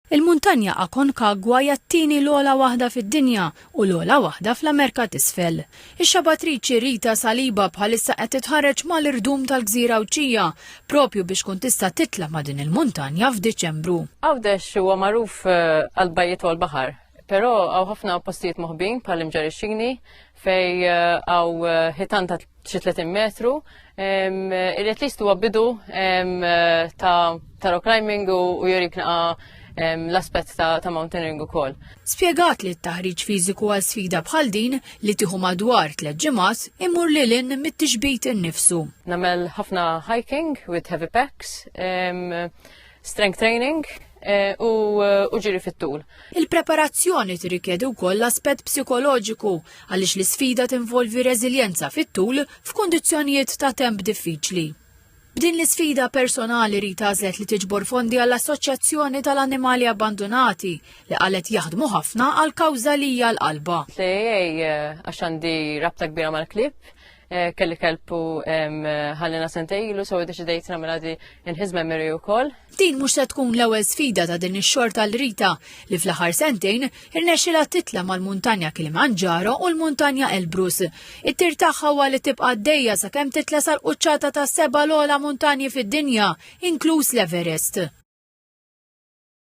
Il-Muntanja Aconcagua hija t-tieni l-ogħla waħda fid-dinja u l-ogħla waħda fl-Amerka t'Isfel. Ix-xabatriċi Rita Saliba bħalissa qed titħarreġ mal-irdum tal-Gżira Għawdxija propju biex tkun tista' titla' ma' din il-muntanja f'Diċembru. Għawdex huwa magħruf għall-bajjiet u għall-baħar, però hawn ħafna postijiet moħbin bħall-Imġarixxini, fej eh, għaw eh, hitan ta' xi 30 metru, irrit list huwa bidu ta' rock climbing u jurik naqa' l-aspett ta', ta mountaineering ukoll. Spjegat li t-taħriġ fiżiku għal sfida bħal din li tieħu madwar tliet ġimgħat imur lil in mit-tixbit innifsu. Namel ħafna hiking with heavy packs. Strength training, Eh, u eh, ġiri fit-tul. Il-preparazzjoni tirrikjedi wkoll l-aspett psikoloġiku għaliex l-isfida tinvolvi reżiljenza fit-tul f'kundizzjonijiet ta' temp diffiċli. B'din l-isfida personali ri tażlet li tiġbor fondi għall-Assoċjazzjoni tal-Annimali Abbandunati li qalet jaħdmu ħafna għal kawża li hija l-qalba. Sejjej eh, għax għandi rabta kbira mal-klib, Eh, kelli kelpu ħallina sentejlu, so deċidejt namela di nħiz memory u koll. Din mux se tkun l-ewel sfida ta' din ix-xor tal-Rita li fl-aħħar sentejn irnexxilha titla' mal-muntanja Kilimanġaro u l-muntanja Elbrus. It-tir tagħha huwa li tibqa' dejja sakemm titla' sal-quċċata ta' seba' l-ogħla muntanji fid-dinja, inkluż l-Everest.